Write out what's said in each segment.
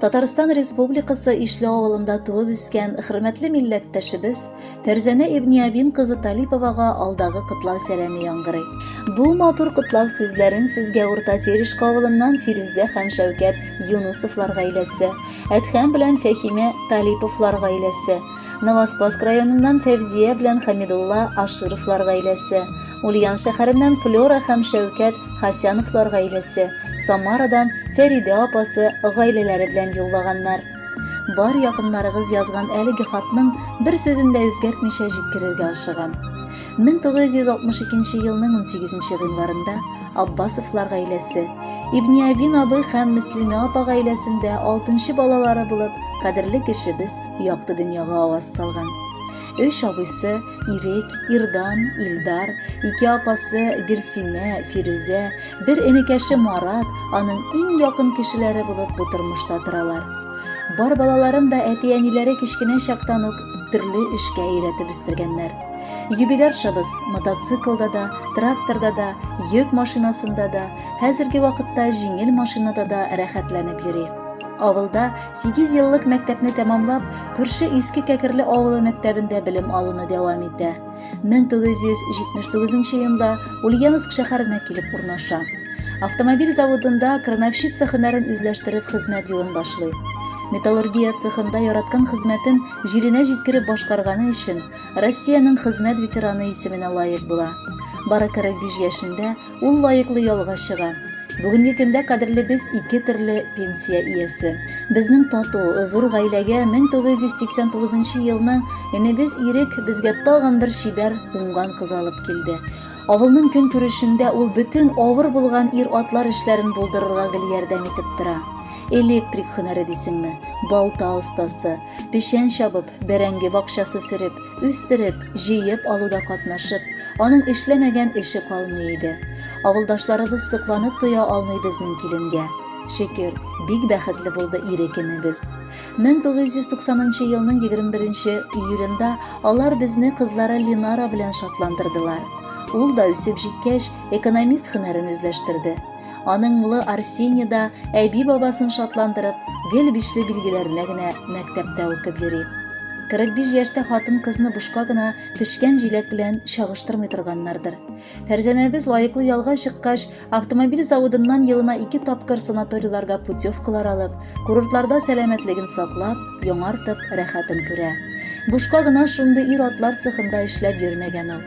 Татарстан Республикасы Ишле авылында туып үскән хөрмәтле милләттәшебез Фәрзәнә Ибниябин кызы Талиповага алдагы котлау сәламе яңгырый. Бу матур котлау сүзләрен сезгә Урта Терешка авылыннан Фирүзә һәм Шәүкәт Юнусовлар гаиләсе, Әдһәм белән Фәхимә Талиповлар гаиләсе, Новоспаск районыннан Фәвзия белән Хамидулла Ашировлар гаиләсе, Ульян шәһәреннән Флера һәм Шәүкәт Хасяновлар гаиләсе, Самарадан Фәридә апасы гаиләләре белән юллаганнар. Бар якыннарыгыз язган әлеге хатның бер сүзен дә үзгәртмичә җиткерергә ашыгам. 1962 елның 18 гыйнварында Аббасовлар гаиләсе, Ибниабин абый һәм Мөслимә апа гаиләсендә алтынчы балалары булып, кадерле кешебез Якты дөньяга аваз салган. Өч абыйсы Ирек, Ирдан, Илдар, ике апасы Гөлсинә, Фирүзә, бер энекәше Марат аның иң якын кешеләре булып бу тормышта торалар. Бар балаларын да әти-әниләре кечкенә чактан ук төрле эшкә өйрәтеп үстергәннәр. Юбиляршабыз мотоциклда да, тракторда да, йөк машинасында да, хәзерге вакытта җиңел машинада да рәхәтләнеп йөри. Авылда 8 еллык мәктәпне тәмамлап, күрше Иске Кәкерле авылы мәктәбендә белем алуны дәвам итә. 1979 елда Ульяновск шәһәренә килеп урнаша. Автомобиль заводында крановщица хөнәрен үзләштереп хезмәт юлын башлый. Металлургия цехында яраткан хезмәтен җиренә җиткереп башкарганы өчен Россиянең хезмәт ветераны исеменә лаек була. Бары 45 яшендә Ул лаеклы ялга чыга. Бүгенге көндә кадерле без ике төрле пенсия иясе. Безнең тату, зур гаиләгә 1989 елның энебез Ирек безгә тагын бер чибәр, уңган кыз алып килде. Авылның көн күрешендә ул бөтен авыр булган ир-атлар эшләрен булдырырга гел ярдәм итеп тора. Электрик һөнәре дисеңме, балта остасы, печән чабып, бәрәңге бакчасы сөреп, Үстереп, җыеп алуда катнашып, аның эшләмәгән эше калмый иде. Авылдашларыбыз сокланып тоя алмый безнең киленгә. Шөкер, бик бәхетле булды ирекенебез. 1990 елның 21 июлендә алар безне кызлары Линара белән шатландырдылар. Ул да үсеп җиткәч, экономист һөнәрен үзләштерде. Аның улы Арсений да әби-бабасын шатландырып, гел бишле билгеләренә генә мәктәптә укып йөри. 45 яшьтә хатын-кызны бушка гына пешкән җиләк белән чагыштырмый торганнардыр. Фәрзәнәбез лаеклы ялга чыккач, автомобиль заводыннан елына ике тапкыр санаторийларга путевкалар алып, курортларда сәламәтлеген саклап, яңартып, рәхәтен күрә. Бушка гына шундый ир-атлар цехында эшләп йөрмәгән ул.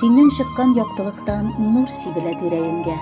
Синнән чыккан яктылыктан нур сибелә тирәенгә.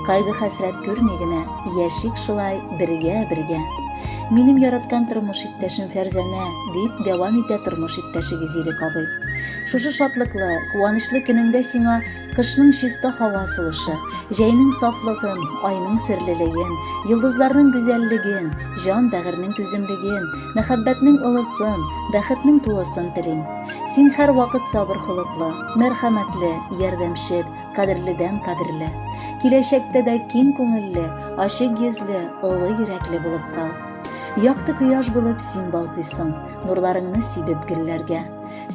Кайгы хәсрәт күрми генә, яшик шулай бергә-бергә. Минем яраткан тормыш иптәшем Фәрзәнә, дип дәвам итә тормыш иптәшегез Ирек абый. Шушы шатлыклы, куанычлы көнеңдә сиңа кышның чиста һава сулышы, җәйнең сафлыгын, айның серлелеген, йолдызларның гүзәллеген, җан бәгырьнең түземлеген, мәхәббәтнең олысын, бәхетнең тулысын телим. Син һәрвакыт сабыр холыклы, мәрхәмәтле, ярдәмчел, кадерледән кадерле. Киләчәктә дә киң күңелле, ачык йөзле, олы йөрәкле булып кал. Якты кояш булып син балкыйсың, нурларыңны сибеп гөлләргә.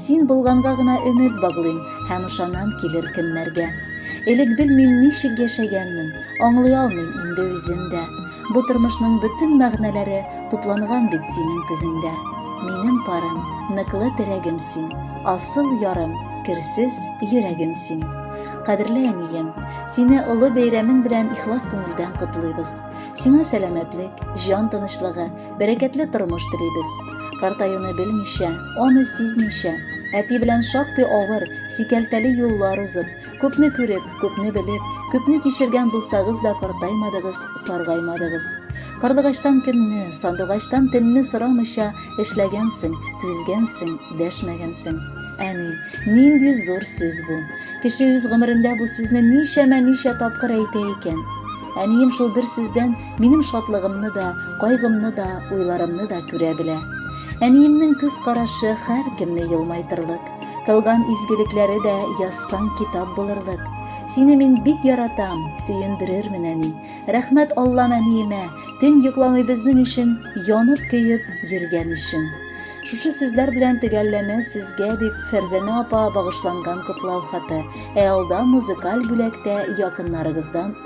Син булганга гына өмет баглыйм һәм ышанам килер көннәргә. Элек белмим ничек яшәгәнмен, аңлый алмыйм инде үзем дә. Бу тормышның бөтен мәгънәләре тупланган бит синең күзеңдә. Минем парым, ныклы терәгем син, асыл ярым, керсез йөрәгем син. Кадерле әнием, сине олы бәйрәмең белән ихлас күңелдән котлыйбыз. Сиңа сәламәтлек, җан тынычлыгы, бәрәкәтле тормыш телибез. Картаюны белмичә, аны сизмичә, әти белән шактый авыр, сикәлтәле юллар узып, Күпне күреп, күпне белеп, күпне кичергән булсагыз да картаймадыгыз, саргаймадыгыз. Карлыгачтан кемне, сандугачтан тенне сорамыйча эшләгәнсең, түзгәнсең, дәшмәгәнсең. Әни, нинди зур сүз бу. Кеше үз гомерендә бу сүзне ничәмә ничә тапкыр әйтә икән. Әнием шул бер сүздән минем шатлыгымны да, кайгымны да, уйларымны да күрә белә. Әниемнең күз карашы һәр кемне елмайтырлык. Кылган изгелекләре дә язсаң китап булырлык. Сине мин бик яратам, сөендерермен әни. Рәхмәт Аллам әниемә, төн йокламый безнең өчен янып көеп йөргән өчен. Шушы сүзләр белән төгәлләнә сезгә дип Фәрзәнә апа багышланган котлау хаты. Ә алда музыкаль бүләктә якыннарыгыздан